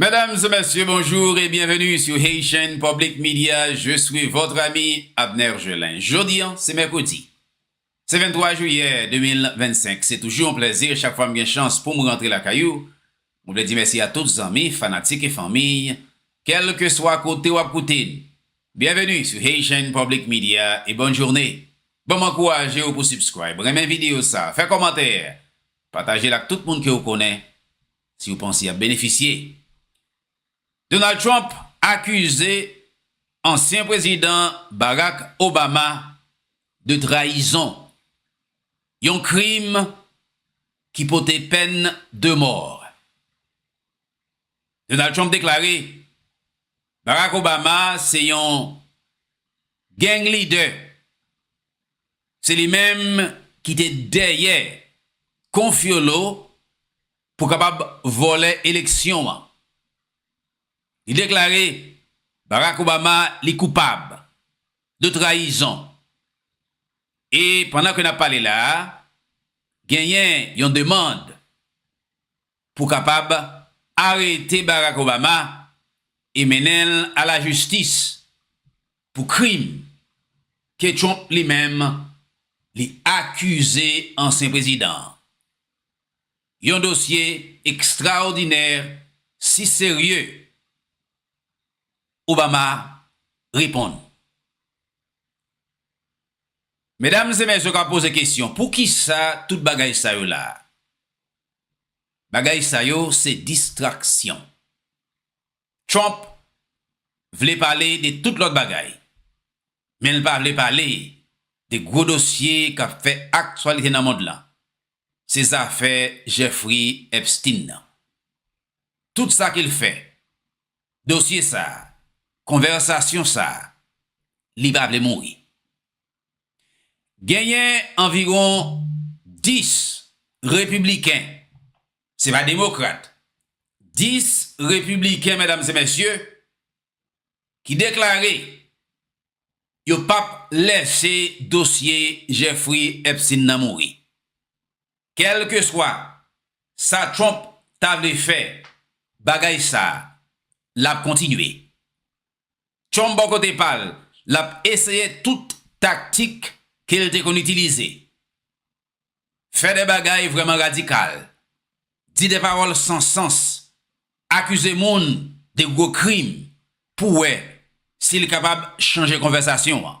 Mesdames et messieurs, bonjour et bienvenue sur Haitian Public Media, je suis votre ami Abner Gelin. Jodi an, se mèkredi, se 23 jiyè 2025, se toujou yon plèzi chak fwa m gen chans pou m rantre lakay ou, mwen vle di mèsi a tout zanmi, fanatik e fanmiy, kèlkeswa kote w ap koute n. Bienvenue sur Haitian Public Media et bonne journée. Bon m ankouraje w pou subscribe, renmen videyo sa, fè kòmantè, pataje l ak tout moun ke w konnen, Si yo panse yap benefisye. Donald Trump akize ansyen prezidan Barack Obama de trayizon, yon krim ki pote pèn de mò. Donald Trump deklare Barack Obama se yon gang lidè Se li menm ki te dèyè Confiolo pou kapab vòlè eleksyon an. Li deklare Barack Obama li koupab de trayizon. E pandan ke n ap pale la a, genyen yon demand pou kapab arete Barack Obama e mennen l a la jistis pou krim ke Trump li menm li akize ansyen prezidan an. Yon dosye ekstraòdinè si serye, Obama reponn. Medam e mesye ka poze kesyon, poukisa tout bagay sa yo la? Bagay sa yo se distraksyon. Trump vle pale de tout lòt bagay, men l pa vle pale de gwo dosye k ap fè aktyalite nan mond lan, se zafè Jeffrey Epstein nan. Tout sa ke l fè, dosye sa, konvèsasyon sa, li pa vle mouri. Genyen anviwon 10 repibliken, se pa demokrat, 10 repibliken medam e mesye ki deklare yo pap lèse dosye Jeffrey Epstein nan mouri. Kèlkeswa sa Trump ta vle fè, bagay sa l ap kontinye. Trump bò kote pa l, l ap eseye tout taktik ke l te konn itilize, fè de bagay vrèman radikal, di de pawòl san sans, akize moun de gwo krim pou wè si l kapab chanje konvèsasyon an.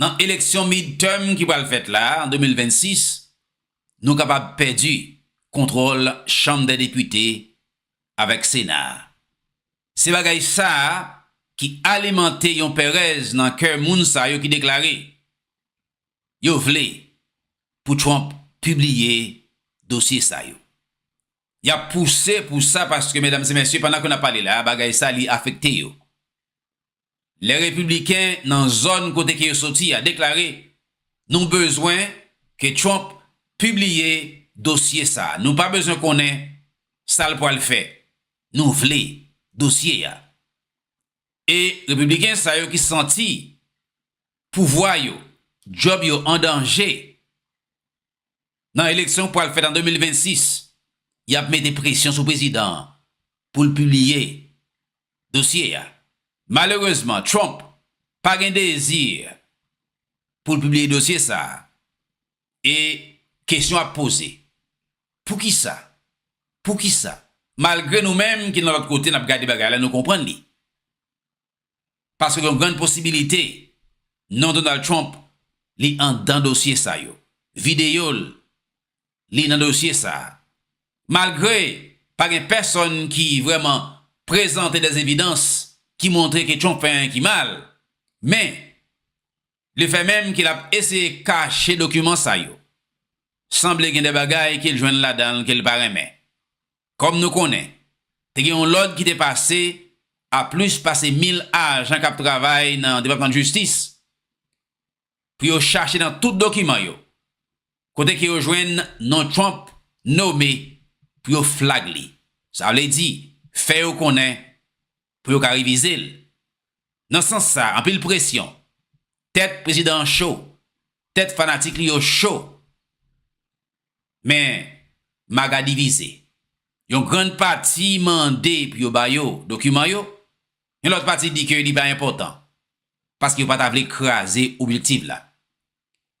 nan eleksyon midterm ki pral fèt la an 2026, nou kapab pèdi kontwòl Chanm dè Depite avèk Sena a. Se bagay sa a ki alimante yon pèrèz nan kè moun sa yo ki deklare yo vle pou Trump pibliye dosye sa yo. Y ap pouse pou sa paske, medam e mesye, pandan ke n ap pale la a, bagay sa li afekte yo. lè Repibliken nan zòn kote ke yo soti a deklare, Nou bezwen ke Trump pibliye dosye sa a. Nou pa bezwen konnen sa l pwal fè. Nou vle dosye a. E Repibliken sa yo ki santi pouvwa yo, djòb yo an danje, nan eleksyon k pral fèt an 2026, y ap mete presyon sou prezidan an pou l pibliye dosye a. Malerezman, Trump pa gen dezi pou l pibliye dosye sa a e kesyon ap poze, Poukisa? Poukisa? Malgre nou menm ki nan lòt kote n ap gade bagay la nou konprann li. paske gen yon grann posibilite non Donald Trump li andan dosye sa yo, videyo l li nan dosye sa a. Malgre pa gen pèsonn ki vrèman prezante dè evidans ki montre ke Trump fè anyen ki mal, men le fè menm ke l ap eseye kache dokiman sa yo, sanble gen dè bagay ke l jwenn ladan l ke l pa renmen. Kòm nou konnen, te gen yon lòd ki te pase a plis pase 1000 ajan k ap travay nan Depatman Jistis pou yo chache nan tout dokiman yo kote ke yo jwenn non Trump nome pou yo flag li. Sa vle di, fè yo konnen pou yo ka revize l. Nan sans sa, anpil presyon, tèt prezidan an cho, tèt fanatik li yo cho. Men, maga divize. Yon grann pati mande pou yo ba yo dokiman yo, yon lòt pati di ke li pa enpòtan, paske yo pa ta vle kraze objektiv la.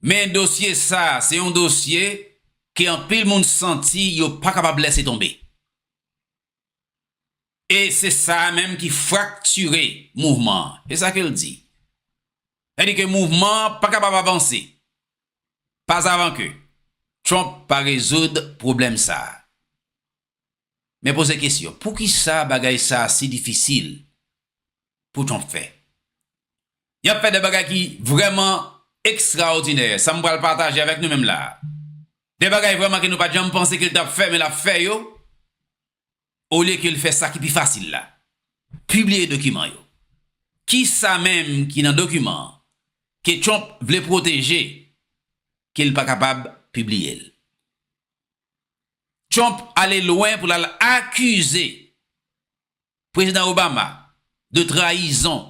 Men dosye sa se yon dosye ke anpil moun santi yo pa kapab lèse tonbe. E se sa a menm ki fraktire mouvman an. Se sa ke l di. Sa di ke mouvman an pa kapab avanse pazavan ke Trump pa rezoud pwoblèm sa a. Men poze kesyon, poukisa bagay sa a si difisil pou Trump fè? Y ap fè de bagay ki vrèman ekstraòdinè, sa m pral pataje avèk nou menm la a. De bagay vrèman ke nou pa t janm panse ke l t ap fè men l ap fè yo, olye ke l fè sa ki pi fasil la, pibliye dokiman yo. Kisa menm ki nan dokiman an ke Trump vle pwoteje ke l pa kapab pibliye l? Trump ale lwen pou l al akize Prezidan Obama de trayizon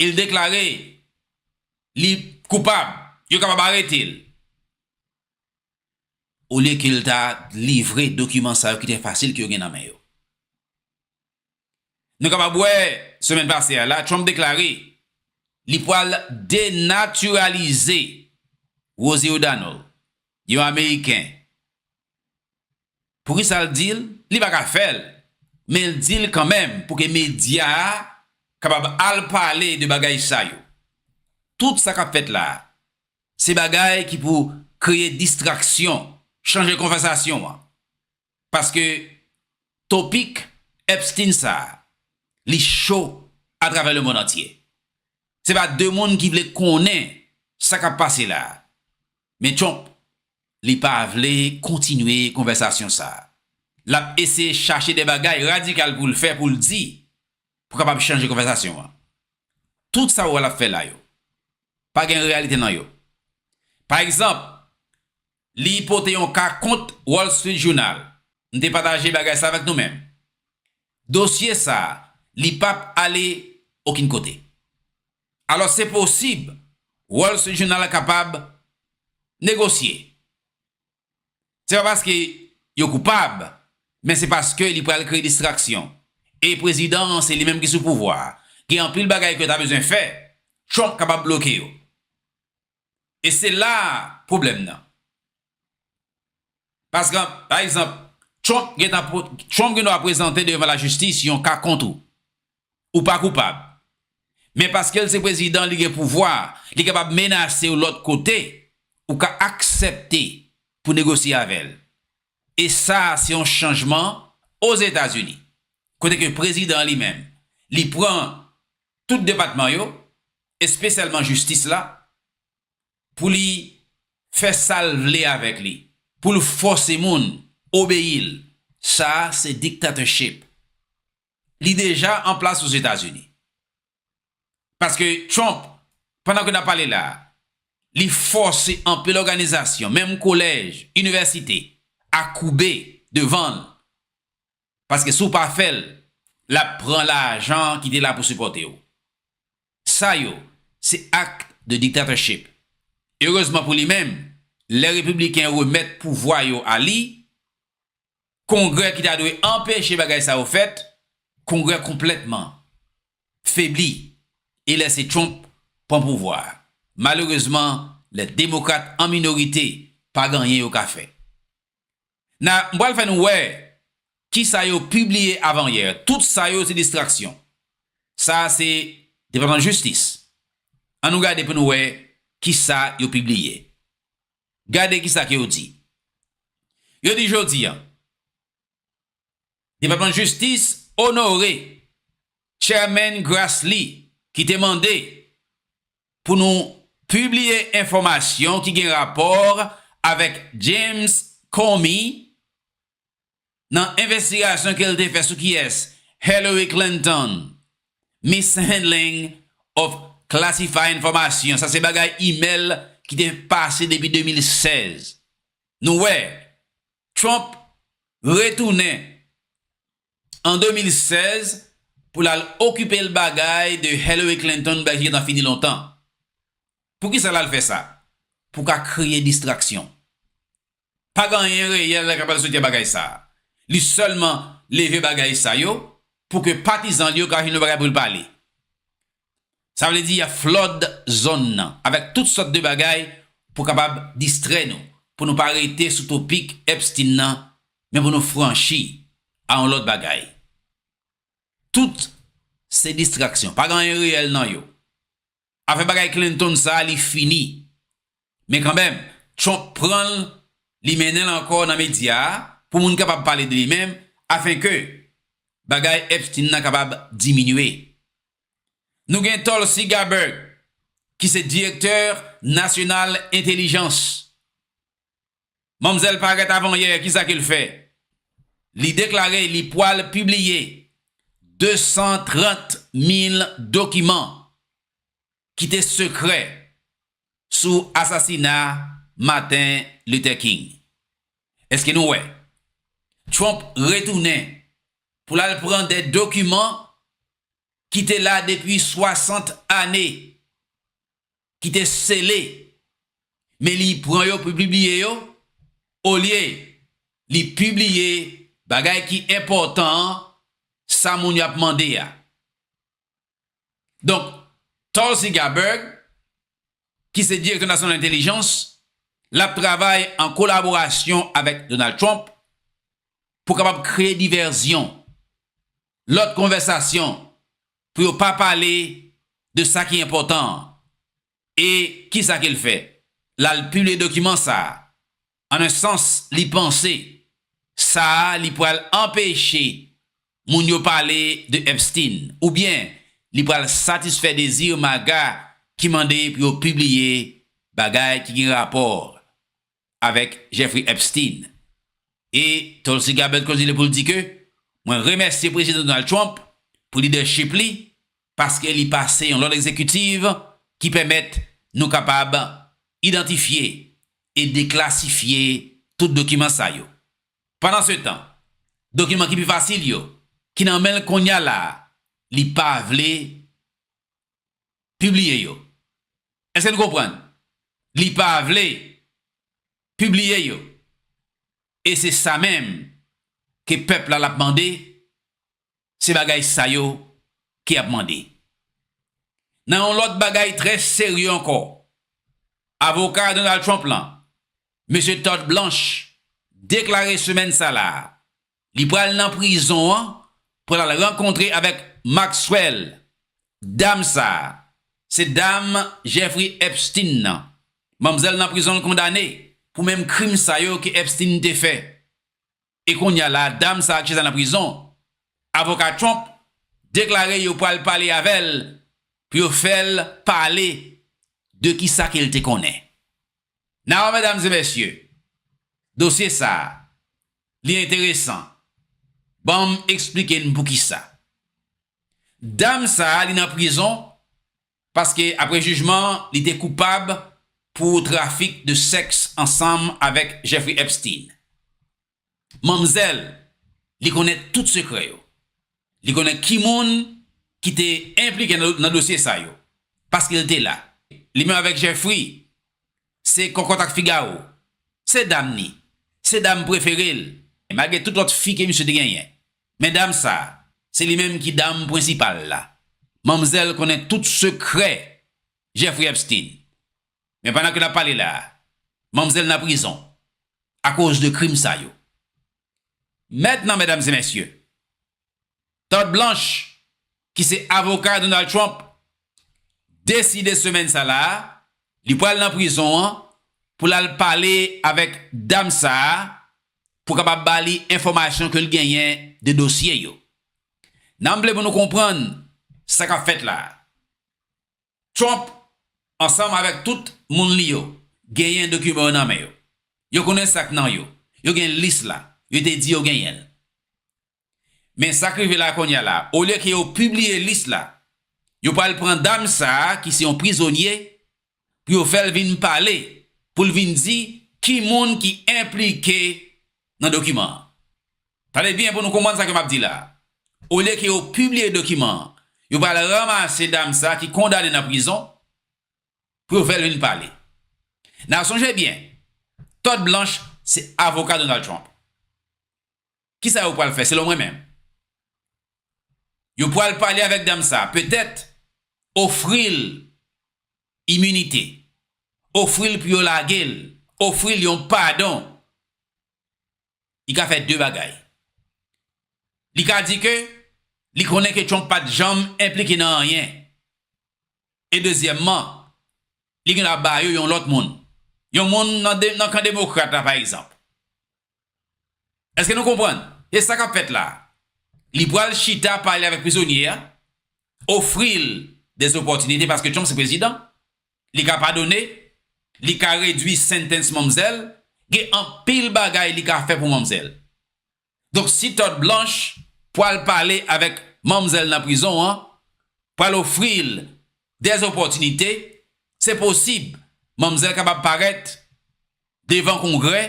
e l deklare li koupab, yo kapab arete l. Olye ke l ta livre dokiman sa yo ki te fasil ke yo gen nan men yo. Nou kapab wè, semèn pase a la, Trump deklare li pwal denatiralize Rosie O'Donnell, yon Ameriken. Pou kisa l di l? Li pa ka fè l, men l di l kanmenm pou ke medya a kapab al pale de bagay sa yo. Tout sa k ap fèt la, se bagay ki pou kreye distraksyon, chanje konvèsasyon an. Paske topik Epstein sa, li cho atravè le mond antye. Se pa de moun ki vle konnen sa k ap pase la. Men Trump, li pa vle kontinye konvèsasyon sa. L ap eseye chache de bagay radikal pou l fè, pou l di, pou kapab chanje konvèsasyon an. Tout sa ou wè l ap fè la yo, pa gen reyalite nan yo. Pa egzanp, li pote yon ka kont Wall Street Journal. M te pataje bagay sa avèk nou men dosye sa li pa p ale okin kote. Alòs se posib Wall Street Journal kapab negosye. Se pa paske yo koupab men se paske li pral kreye distraksyon. E prezidan an se li menm ki sou pouvwa a. Gen anpil bagay ke yo ta bezwen fè, Trump kapab bloke yo. E se la a pwoblèm nan. Paskn, pa egzanp, Trump gen tan, Trump gen dwa prezante devan lajistis yon ka kont ou. Ou pa koupab. Men paske l se prezidan, li gen pouvwa, li kapab menase w lòt kote, ou ka aksepte pou negosye avè l. E sa a se yon chanjman Ozetazini. Kote ke prezidan an li menm, li pran tout depatman yo, espesyalman jistis la, pou li fè sa l vle avèk li, pou l fòse moun obeyi l, sa a se dictatorship. Li deja an plas Ozetazini. Paske Trump, pandan ke n ap pale la a, li fòse anpil òganizasyon, menm kolèj, inivèsite, a koube devan l, paske si w pa fè l l ap pran lajan ki te la pou sipòte w. Sa yo se acte de dictatorship. Erezman pou li menm, lè repibliken remèt pouvwa yo a li, Kongrè ki ta dwe anpeche bagay sa yo fèt, Kongrè konplètman febli e lèse Trump pran pouvwa a. Malerezman, lè Demokrat an minorite, pa gen anyen yo ka fè. Na, m pral fè nou wè ki sa yo pibliye avanyè. Tout sa yo se distraksyon. Sa a se Depatman Jistis. An nou gade pou nou wè ki sa yo pibliye. Gade ki sa ke yo di. Yo di jodi an. Depatman Jistis onore Chairman Grassley ki te mande pou nou pibliye enfòmasyon ki gen rapò avèk James Comey nan envestigasyon ke l te fè sou kiyès Hillary Clinton mishandling of classified information, sa se bagay email ki te pase depi 2016. Nou wè Trump retounen an 2016 pou l al okipe l bagay de Hillary Clinton bagay ki gentan fini lontan. Poukisa l al fè sa? Pou ka kreye distraksyon. Pa gen anyen reyèl k pral soti a bagay sa. Li sèlman leve bagay sa yo pou ke patizan l yo ka jwenn yon bagay pou l pale. Sa vle di y ap flòd zòn nan avèk tout sòt de bagay pou kapab distrè nou, pou nou pa rete sou topik Epstein nan, men pou nou franchi a yon lòt bagay. Tout se distraksyon, pa gen anyen reyèl nan yo. Afè bagay Clinton sa a li fini. Men kanmèm, Trump pran l, li mennen l ankò nan medya a pou moun kapab pale de li men afen ke bagay Epstein nan kapab diminye. Nou gen Tulsi Gabbard ki se direktè nasyonal entelijans. Manmzèl parèt avanyè, kisa ke l fè? Li deklare li pwal pibliye 230 mil dokiman Kite sekrè sou asasina Martin Luther King. Eske nou wè? Trump retounen pou l al pran de dokiman ki te la depi 60 ane, ki te sele, men li pran yo pou l pibliye yo, olye li pibliye bagay ki enpòtan an, sa moun yo ap mande a. Donk, Tulsi Gabbard, ki se Direktè Nasyonal Entelijans, l ap travay an kolaborasyon avèk Donald Trump pou kapab kreye divèzyon, lòt konvèsasyon pou yo pa pale de sa ki enpòtan an. E kisa ke l fè? L al pibliye dokiman sa a. An un sans, li panse sa a li pral anpeche moun yo pale de Epstein oubyen li pral satisfè dezi MAGA ki mande pou yo pibliye bagay ki gen rapò avèk Jeffrey Epstein. E Tulsi Gabbard kontinye pou l di ke, Mwen remèsye Prezidan Donald Trump pou lidèchip li paske li pase yon lòd egzekitiv ki pèmèt nou kapab idantifye e deklasifye tout dokiman sa yo. Pandansetan, dokiman ki pi fasil yo, ki nan men l kounye a la a, li pa vle pibliye yo. Eske n konprann? Li pa vle pibliye yo. E se sa menm ke pèp la l ap mande, se bagay sa yo ki ap mande. Nan yon lòt bagay trè serye ankò, avoka Donald Trump lan, Mesye Todd Blanche, deklare semèn sa la a Li pral nan prizon an pou l al rankontre avèk Maxwell. Dam sa a, se dam Jeffrey Epstein nan. Manmzèl nan prizon l kondane pou menm krim sa yo ke Epstein te fè. E kounye a la a dam sa a ki chita nan prizon, avoka Trump deklare yo pral pale avè l pou yo fè l pale de kisa ke l te konnen. Naw, medam e mesye, dosye sa a Li enteresan. Ban m esplike n poukisa. Dam sa a li nan prizon paske apre jijman an li te koupab pou trafik de sèks ansanm avèk Jeffrey Epstein. Manmzèl li konnen tout sekrè yo. Li konnen ki moun ki te enplike nan dosye sa yo paske l te la. Li menm avèk Jeffrey Se kòkòt ak figawo. Se dam ni. Se dam prefere l. Malgre tout lòt fi ke misye te genyen. Men dam sa, se li menm ki dam prensipal la. Manmzèl konnen tout sekrè Jeffrey Epstein. Men pandan ke n ap pale la, manmzèl nan prizon akoz de krim sa yo. Mètnan, medam e mesye, Todd Blanche, ki se avoka Donald Trump, deside semèn sa la li pral nan prizon an pou l al pale avèk dam sa a pou kapab ba li enfòmasyon ke l genyen de dosye yo. Nanm vle pou nou konprann sa k ap fèt la a. Trump ansanm avèk tout moun li yo genyen dokiman yo nan men yo. Yo konnen sa k nan yo. Yo gen lis la. Yo te di yo genyen l. Men sa k rive la kounye a la, olye ke yo pibliye lis la, yo pral pran dam sa a ki se yon prizonye pou yo fè l vin pale, pou l vin di ki moun ki enplike nan dokiman an. Tande byen pou nou konprann sa ke m ap di la. Olye ke yo pibliye dokiman an, yo pral ranmase dam sa ki kondane nan prizon pou yo fè l vin pale. N a sonje byen, Todd Blanche se avoka Donald Trump. Kisa yo pral fè selon mwen menm? Yo pral pale avèk dam sa, petèt ofri l iminite, ofri l pou yo lage l, ofri l yon padon, li ka fè de bagay. Li ka di ke li konnen ke Trump pa t janm enplike nan anyen. E dezyèmman, li gen dwa ba yo yon lòt moun. Yon moun nan kan demokrat la pa egzanp. Eske nou konprann? E sa kap fèt la a? Li pral chita pale avèk prizonye a, ofri l de zopòtinite paske Trump se prezidan, li ka padone, li ka redwi sentens manmzèl, gen anpil bagay li ka fè pou manmzèl. Donk si Todd Blanche pral pale avèk manmzèl nan prizon an, pral ofri l de zopòtinite, se posib manmzèl kapab parèt devan Kongrè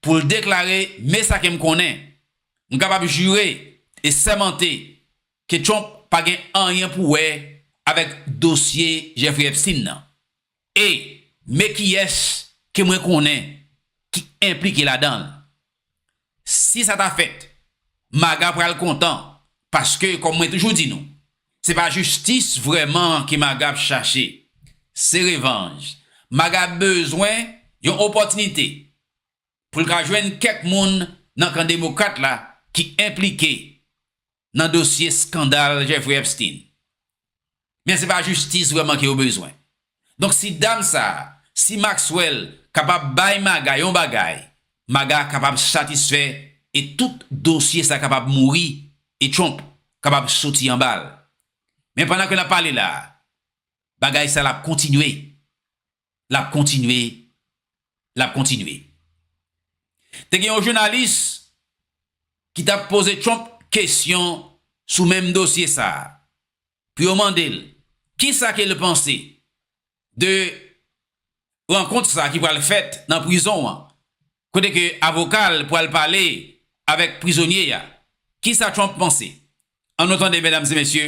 pou l deklare me sa ke m konnen, m kapab jire e sèmante ke Trump pa gen anyen pou wè avèk dosye Jeffrey Epstein nan e me kiyès ke mwen konnen ki enplike ladan l. Si sa ta fèt, Maga pral kontan paske kòm mwen toujou di nou, se pa jistis vrèman ke Maga ap chache, se revanj. Maga bezwen yon opòtinite pou l ka jwenn kèk moun nan kan demokrat la ki enplike nan dosye skandal Jeffrey Epstein. Men se pa jistis vreman ke yo bezwen. Donk si dam sa, si Maxwell kapab bay Maga yon bagay, Maga kapab satisfè e tout dosye sa kapab mouri e Trump kapab soti anba l. Men pandan ke n ap pale la, bagay sa la ap kontinye. l ap kontinye, l ap kontinye. Te gen yon jounalis ki t ap poze Trump kesyon sou menm dosye sa a pou yo mande l ki sa ke l panse de rankont sa a ki pral fèt nan prizon an kote ke avoka l pral pale avèk prizonye a. Ki sa Trump panse? An nou tande medam e mesye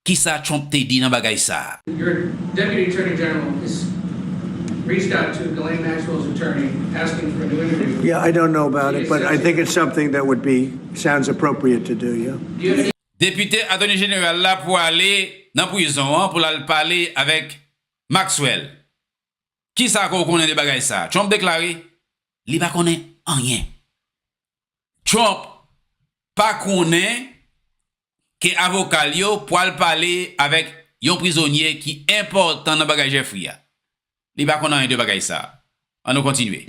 Kisa Trump te di nan bagay sa? Your Deputy Attorney General has reached out to Ghislaine Maxwell's attorney asking for a new interview with her. Yeah, I don't know about it, but I think it's something that would be, sounds appropriate to do, yeah. Do you have any. Depute Attorney General la pwale nan prizon an pou lal pale avèk Maxwell. Kisa ke w konnen de bagay sa? Trump deklare li pa konnen anyen. Trump pa konnen ke avoka l yo pwal pale avèk yon prizonye ki enpòtan nan bagay Jeffrey a. Li pa konn anyen de bagay sa. An nou kontinye.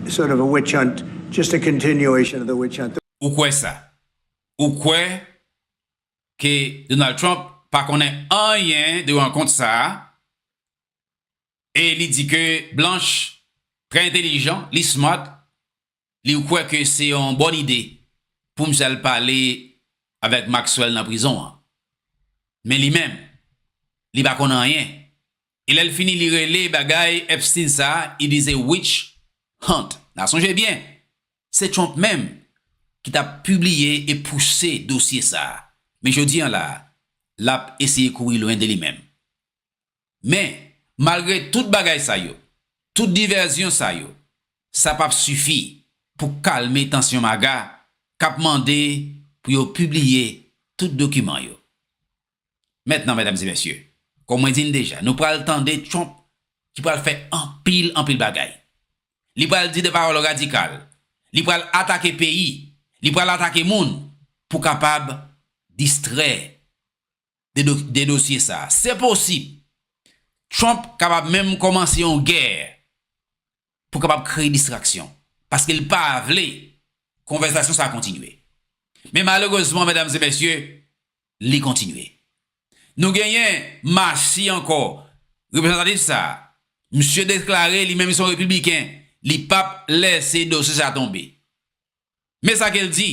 sort of a witch hunt just a continuation of the witch hunt. Ou kwè sa? Ou kwè ke Donald Trump pa konnen anyen de rankont sa a e li di ke Blanche trè entelijan, li smart, li ou kwè ke se yon bòn ide pou misye al pale avèk Maxwell nan prizon an? Men li menm, li pa konn anyen E lèl fini li rele bagay Epstein sa i di se witch hunt na sonje byen se Trump menm ki ta pibliye e pouse dosye sa men jodi an la lap eseye kouri lwen de li menm men malgre tout bagay sa yo tout divèzyon sa yo sa pap sifi pou kalme tansyon maga kap mande pou yo pibliye tout dokiman yo Mentnan medam e mesye, kon mwen di n deja, nou pral tande Trump ki pral fè anpil anpil bagay. Li pral di de pawòl radikal, li pral atake peyi, li pral atake moun pou kapab distrè de de dosye sa. Se posib Trump kapab menm kòmanse yon gè pou kapab kreye distraksyon, paske l pa vle konvèsasyon sa a kontinye. Men malerezman medam e mesye, li kontinye. Nou genyen Massie ankò, reprezantatif sa a, misye deklare li menm se yon repibliken, li pap lèse dosye sa a tonbe. Men sa ke l di,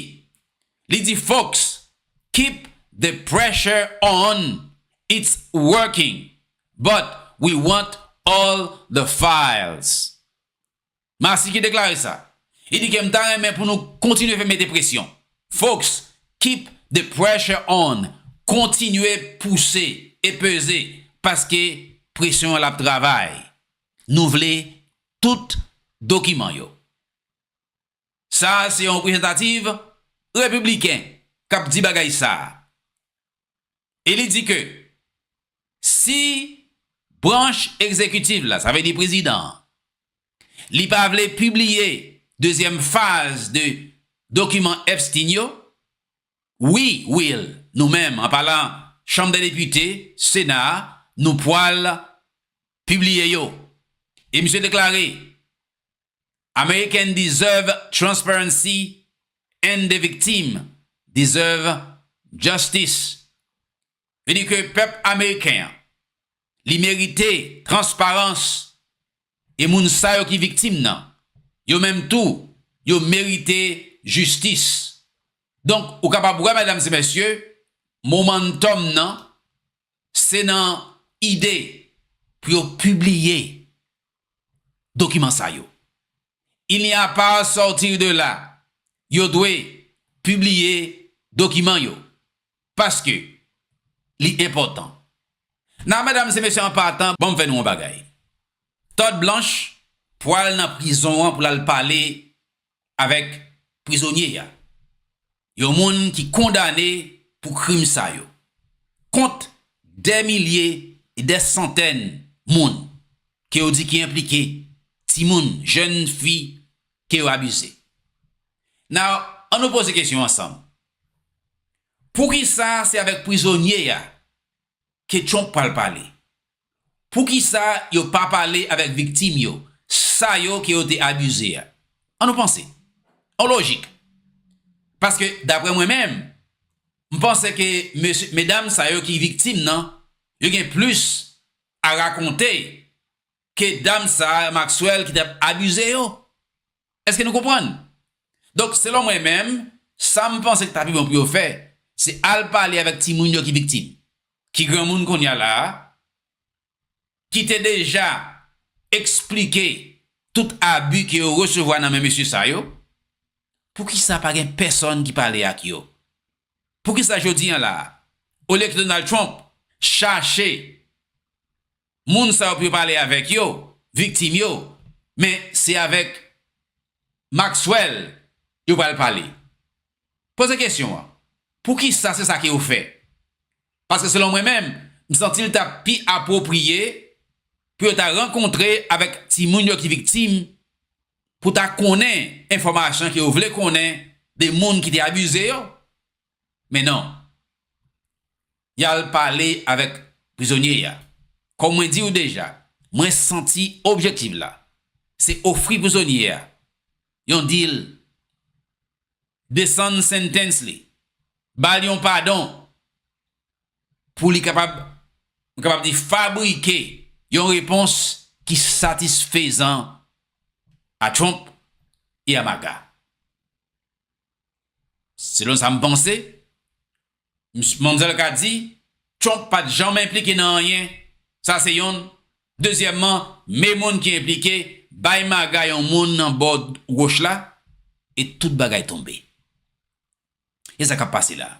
li di folks keep the pressure on, it's working but we want all the files. Marci ki deklare sa, li di ke m ta renmen pou nou kontinye fè mete presyon, folks keep the pressure on, kontinye pouse e peze paske presyon an l ap travay, nou vle tout dokiman yo. Sa a se yon reprezantativ repibliken k ap di bagay sa a. E li di ke si branch egzekitiv la, sa vle di prezidan an, li pa vle pibliye dezyèm faz de dokiman Epstein yo, wi Will, nou menm, an palan Chanm dè Depite, Sena a, nou pwal pibliye yo. E misye deklare, American deserve transparency and the victim deserve justice. Vle di ke pèp ameriken an li merite transparans e moun sa yo ki viktim nan yo menm tou yo merite jistis. Donk ou kapab wè medam e mesye momentum nan se nan ide pou yo pibliye dokiman sa yo. Il n'y a pas sortir de là, yo dwe pibliye dokiman yo paske li enpòtan. Nan medam se mesye an patan banm fè nou yon bagay. Todd Blanche pwal nan prizon an pou lal pale avèk prizonye a, yon moun ki kondane pou krim sa yo, kont dè milye e dè santèn moun ke yo di ki enplike, timoun, jèn fi ke yo abize. Now, an nou poze kesyon ansanm, poukisa se avèk prizonye a ke Trump pral pale? Poukisa yo pa pale avèk viktim yo, sa yo ke yo te abize a? An nou panse. An lojik. Paske daprè mwen menm, m panse ke mesye, medam sa yo ki viktim nan, yo gen plis a rakonte ke dam sa a, Maxwell, ki t ap abize yo. Eske nou konprann? Donk, selon mwen menm, sa m panse ki ta pi bon pou yo fè, se al pale avèk timoun yo ki viktim. ki granmoun kounye a la a, ki te deja eksplike tout abi ke yo resevwa nan men mesye sa yo, poukisa pa gen pèsòn ki pale ak yo? Poukisa jodi an la a, olye ke Donald Trump chache moun sa yo pou yo pale avèk yo, viktim yo, men se avèk Maxwell yo pral pale. Poze kesyon an, poukisa se sa ke yo fè? Paske selon mwen menm, m santi l ta pi apwopriye pou yo ta rankontre avèk timoun yo ki viktim pou ta konnen enfòmasyon ke yo vle konnen de moun ki te abize yo, Men non. Y al pale avèk prizonye a. Kòm mwen di ou deja, mwen santi objektiv la se ofri prizonye a yon dil, desann sentens li, ba l yon padon pou li kapab, mwen kapab di fabrike yon repons ki satisfezan a Trump e a MAGA. Selon sa m panse, Msye Manzell ka di, Trump pa t janmen enplike nan anyen. Sa se yonn. Dezyèmman, me moun ki enplike, bay maga yon moun nan bò woch la, e tout bagay tonbe. E sa k ap pase la a?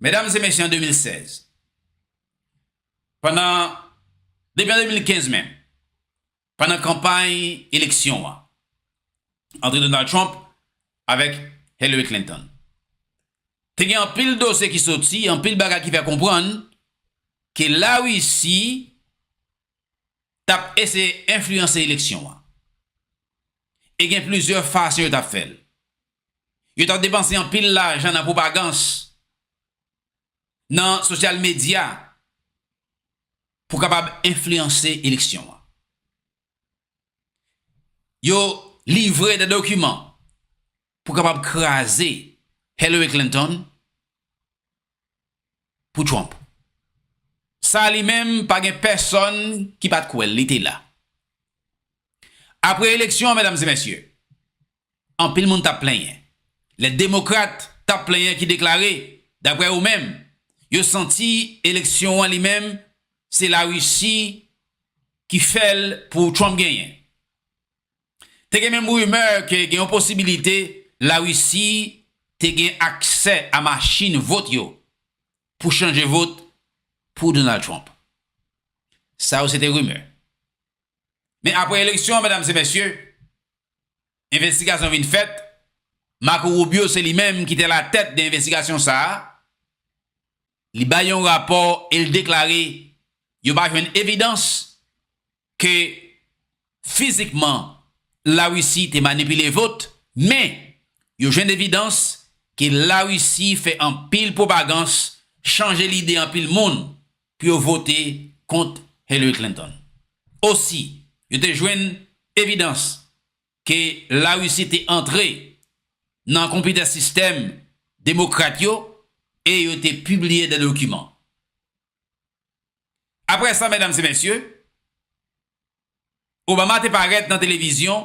Medam e mesye an 2016, pandan, depi an 2015 menm, pandan kanpay eleksyon an, antre Donald Trump avèk Hillary Clinton, te gen anpil dosye ki soti, anpil bagay ki fè konprann ke La Risi t ap eseye enfliyanse eleksyon an. E gen plizyè fason yo t ap fè l. Yo t ap depanse anpil lajan nan pwopagans, nan sosyal medya pou kapab enfliyanse eleksyon an. Yo livre de dokiman pou kapab kraze Hillary Clinton pou Trump. Sa li menm pa gen pèsòn ki pa t kwè l, li te la. Apre eleksyon an, medam e mesye, Anpil moun t ap plenyen lè Demokrat t ap plenyen ki deklare, daprè yo menm, yo santi eleksyon an li menm se Larisi ki fè l pou Trump genyen. Te gen menm rimè ke gen yon posibilite Larisi te gen aksè a machin vot yo pou chanje vot pou Donald Trump. Sa yo se te rimè. Men aprè eleksyon an, medam e mesye, Envestigasyon vin fèt, Marco Rubio se li menm ki te alatèt de envestigasyon sa a, li bay yon rapò e l deklare yo pa jwenn evidans ke fizikman Larisi te manipile vot, men yo jwenn evidans ke Larisi fè anpil pwopagans, chanje lide anpil moun pou yo vote kont Hillary Clinton. Osi, yo te jwenn evidans ke Larisi te antre nan konpitè sistèm Demokrat yo e yo te pibliye de dokiman. Apre sa, medam e mesye, Obama te parèt nan televizyon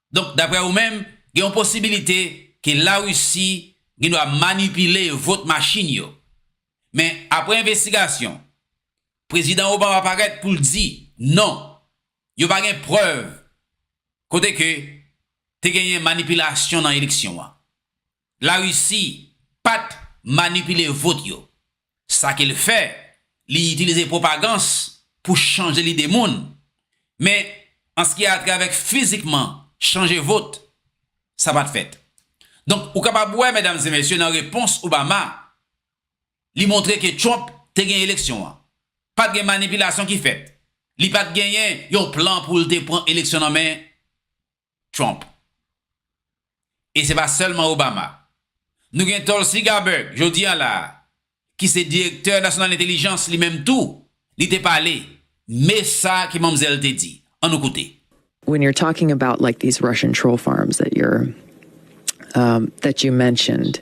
Donk daprè ou menm, gen yon posibilite ke Larisi gendwa manipile vot machin yo. Men apre envestigasyon, Prezidan Obama parèt pou l di, non, yo pa gen prèv kote ke te genyen manipilasyon nan eleksyon an. La Russie pat manipile vote yo. Sa ke l fè, li itilize pwopagans pou chanje lide moun. Men, an ski a trè avèk fizikman chanje vote, sa pat fèt. Donk, ou kapab wè, medam e mesye, nan repons Obama, li montre ke Trump te gen eleksyon an. Pat gen manipilasyon ki fèt. Li pat genyen yon plan pou l te pran eleksyon nan men Trump. E se pa sèlman Obama. Nou gen Tulsi Gabbard, jodi an la a, ki se direktè nasyonal entelijans li menm tou, li te pale, me sa ke manmzèl te di. An nou koute. When you're talking about like these Russian troll farms that you're that you mentioned,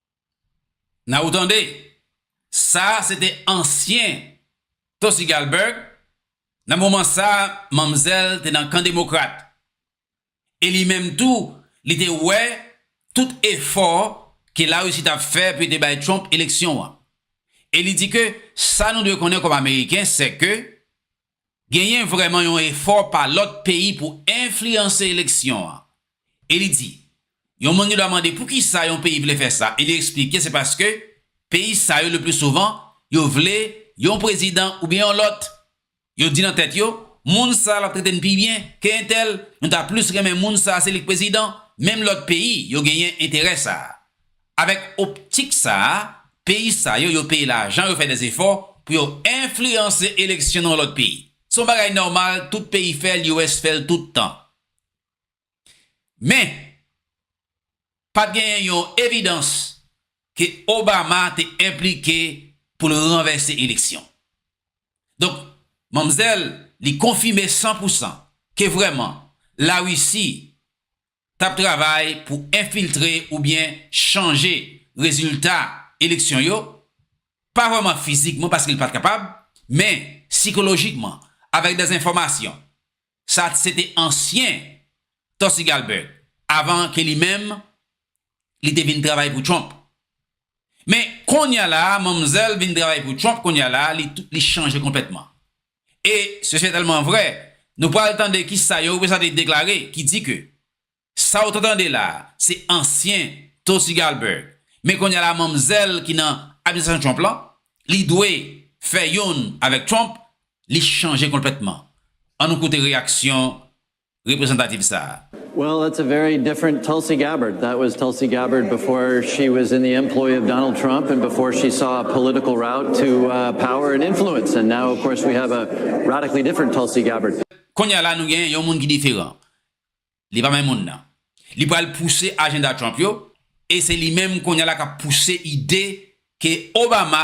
Nan ou tande, sa se te ansyen Tosi Galberg, nan moman sa manmzèl te nan kan demokrat, e li menm tou li te wè tout efò ke Larisi t ap fè pou yo te bay Trump eleksyon an, e li di ke sa nou dwe konnen kòm Ameriken sè ke genyen vrèman yon efò pa lòt peyi pou enfliyanse eleksyon an. E li di, yon moun gen dwa mande poukisa yon peyi vle fè sa e li eksplike se paske peyi sa yo leplisouvan yo vle yon prezidan oubyen yon lòt, yo di nan tèt yo, moun sa l ap trete n pi byen ke entèl, nou ta plis renmen moun sa se li k prezidan, menm lòt peyi yo genyen enterè sa a. Avèk optik sa a, peyi sa yo, yo peye lajan, yo fè dè efò pou yo enfliyanse eleksyon nan yon lòt peyi. Se yon bagay nòmal, tout peyi fè l, US fè l tout tan. Men, pa t genyen yon evidans ke Obama te enplike pou l ranvèse eleksyon. Donk, manmzèl li konfime san pou san ke vrèman Larisi t ap travay pou enfiltre oubyen chanje rezilta eleksyon yo, pa vrèman fizikman paske li pa t kapab, men sikolojikman avèk dezenfòmasyon. Sa se te ansyen Tulsi Galbert avan ke li menm li te vin travay pou Trump. Men, kounye a la a, manmzèl vin travay pou Trump kounye a la a, li chanje konplètman. E se se tèlman vrè, nou pral tande ki sa yon reprezante deklare ki di ke sa ou ta tande la a se ansyen Tulsi Galberg, men kounye a la manmzèl ki nan administrasyon Trump lan, li dwe fè youn avèk Trump, li chanje konplètman. An nou koute reyaksyon reprezantativ sa a. Well that's a very different Tulsi Gabbard. That was Tulsi Gabbard before she was in the employ of Donald Trump and before she saw a political route to power and influence and now of course we have a radically different Tulsi Gabbard. Kounye a la nou gen yon moun ki diferan. Li pa menm moun nan. Li pral pouse ajenda Trump yo e se li menm kounye a la k ap pouse ide ke Obama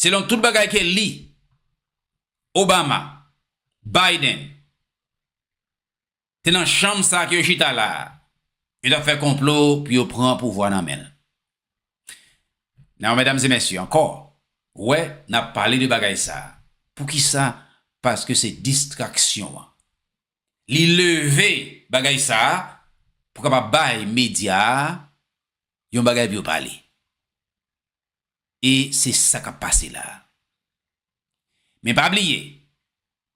Selon tout bagay ke li, Obama, Biden, te nan chanm sa ke yo chita la a, yo t ap fè konplo pou yo pran pouvwa nan men l. Now, medam e mesye, ankò, wè, n ap pale de bagay sa a. Poukisa? Paske se distraksyon an. Li leve bagay sa a pou kapab bay medya a yon bagay pou yo pale. e se sa k ap pase la a. Men pa bliye,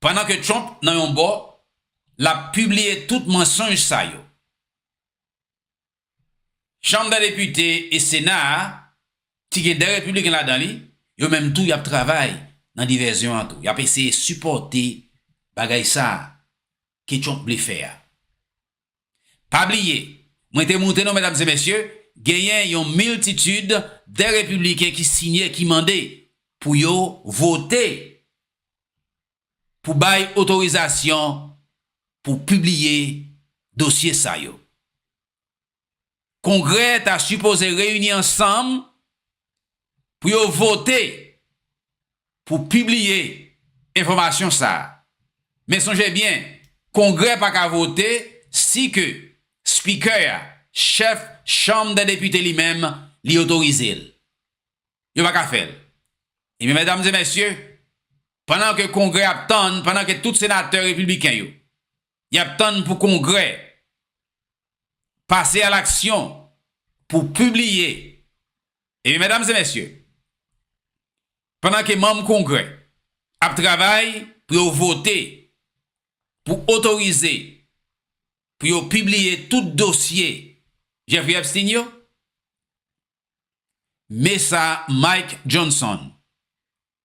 pandan ke Trump nan yon bò, l ap pibliye tout mansonj sa yo, Chanm dè Depite e Sena a, ki gen 2 Repibliken ladan li, yo menm tou y ap travay nan divèzyon an tou. Y ap eseye sipòte bagay sa a ke Trump vle fè a. Pa bliye, mwen te moute nou medam e mesye, genyen yon miltitid de repibliken ki siyen ki mande pou yo vote pou bay otorizasyon pou pibliye dosye sa yo. Kongrè ta sipoze reyini ansanm pou yo vote pou pibliye enfòmasyon sa a. Men sonje byen, Kongrè pa ka vote si ke Spikè a, Chèf Chanm dè Depite li menm, li otorize l. Yo pa ka fè l. Ebyen, medam e mesye, pandan ke Kongrè ap tann, pandan ke tout senatè repibliken yo, y ap tann pou Kongrè pase a laksyon pou pibliye Ebyen medam e mesye pandan ke manm kongrè ap travay pou yo vote pou otorize pou yo pibliye tout dosye Jeffrey Epstein yo me sa Mike Johnson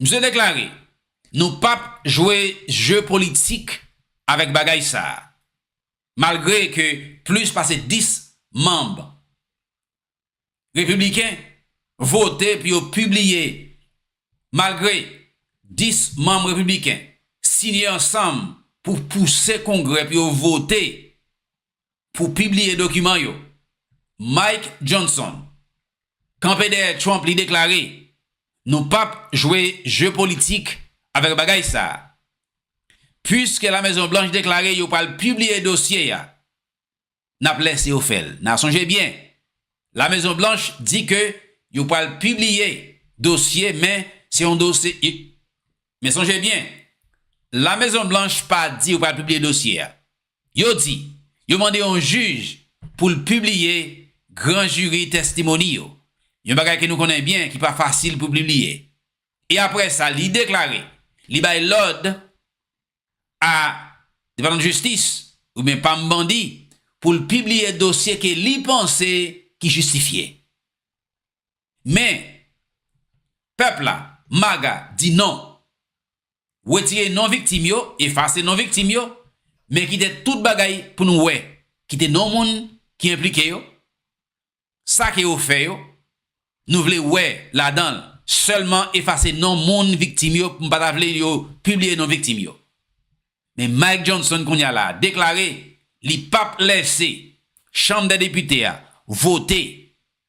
Misye deklare, Nou pap jwe je politik avèk bagay sa a. Malgre ke plis pase 10 manm Repibliken vote pou yo pibliye, malgre 10 manm Repibliken siyen ansanm pou pouse Kongrè pou yo vote pou pibliye dokiman yo, Mike Johnson, kanpe dèyè Trump li deklare, Nou pap jwe je politik avèk bagay sa a. Puiske La Mezon Blanch deklare yo pral pibliye dosye a, n ap lèse yo fè l. N a sonje byen, La Mezon Blanch di ke yo pral pibliye dosye men se yon dosye Men sonje byen, La Mezon Blanch pa di yo pral pibliye dosye a. Yo di, yo mande yon jij pou l pibliye gran jiri tèstimoni yo, yon bagay ke nou konnen byen ki pa fasil pou pibliye. E apre sa li deklare, li bay lòd a Depatman Jistis oubyen pam bandi pou l pibliye dosye ke li panse ki jistifye. Men, pèp la, MAGA, di non. Retire non viktim yo, efase non viktim yo, men kite tout bagay pou nou wè. Kite non moun ki enplike yo, sa ke yo fè yo, nou vle wè ladan l. Sèlman efase non moun viktim yo, m pa ta vle yo pibliye non viktim yo. Men Mike Johnson kounye a la a deklare li pap lèse Chanm dè Depite a vote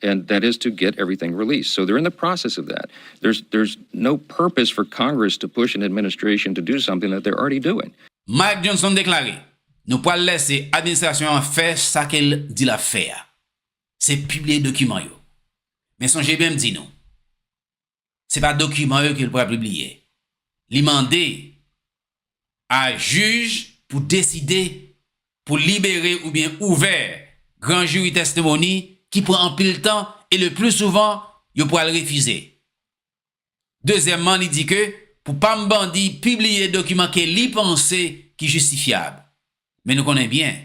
and that is to get everything released. So they're in the process of that. There's there's no purpose for Congress to push an administration to do something that they're already doing. Mike Johnson deklare, Nou pral lèse administrasyon an fè sa ke l di l ap fè a. Se pibliye dokiman yo. Men sonje byen m di nou. se pa dokiman yo ke l pral pibliye. Li mande a jij pou deside pou libere oubyen ouvè gran jiri tèstemoni ki pran anpil tan e le pli souvan yo pral refize. Dezyèmman li di ke pou pam bandi pibliye dokiman ke li panse ki jistifyab. Men nou konnen byen,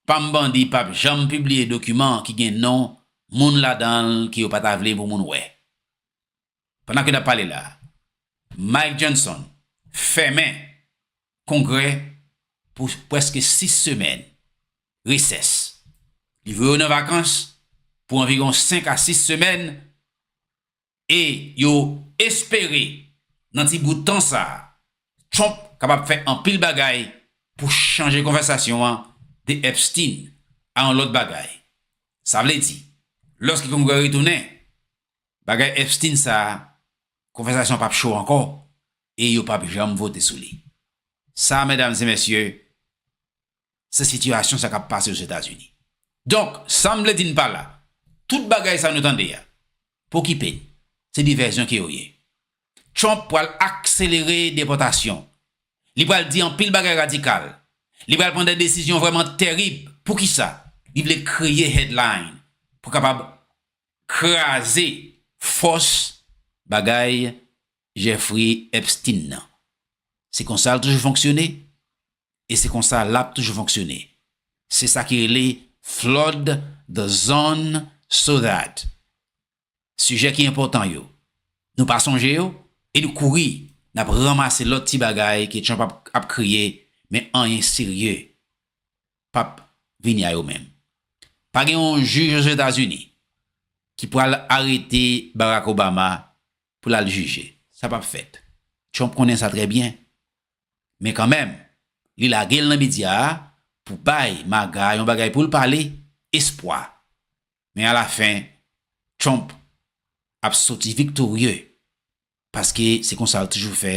pam bandi pap janm pibliye dokiman ki gen non moun ladan l ke yo pa ta vle pou moun wè. Pandan ke n ap pale la, Mike Johnson fèmen Kongrè pou preske 6 semèn, resès. Li voye yo nan vakans pou anviron 5 a 6 semèn E yo espere nan ti bout tan sa a, Trump kapab fè anpil bagay pou chanje konvèsasyon an de Epstein a yon lòt bagay. Sa vle di, lòske Kongrè retounen, bagay Epstein sa a, konvèsasyon an p ap cho ankò e yo p ap janm vote sou li. Sa, medam e mesye, se sitiyasyon sa k ap pase Ozetazini. Donk, sa m vle di n pa la, tout bagay sa nou tande a, pokipe n, se divèzyon ke yo ye. Trump pral akselere depòtasyon, li pral di anpil bagay radikal, li pral pran de desizyon vrèman terib. Poukisa? Li vle kreye headline pou kapab kraze fòs bagay Jeffrey Epstein nan. Se konsa l toujou fonksyone, e se konsa lap toujou fonksyone se sa ki rele flood the zone so that sijè ki enpòtan yo nou pa sonje yo e nou kouri nap ranmase lòt ti bagay ke Trump ap kreye men anyen serye pap vini a yo menm pa gen yon jij ozetazini ki pral arete Barack Obama pou lal jije sa pap fèt Trump konnen sa trè byen Men kanmenm, li lage l nan medya a pou bay Maga yon bagay pou l pale, espwa. Men alafen, Trump ap soti viktorye paske se konsa l toujou fè,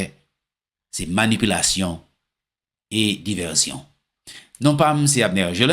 se manipilasyon e divèzyon. Non pa m se Abner Gelin.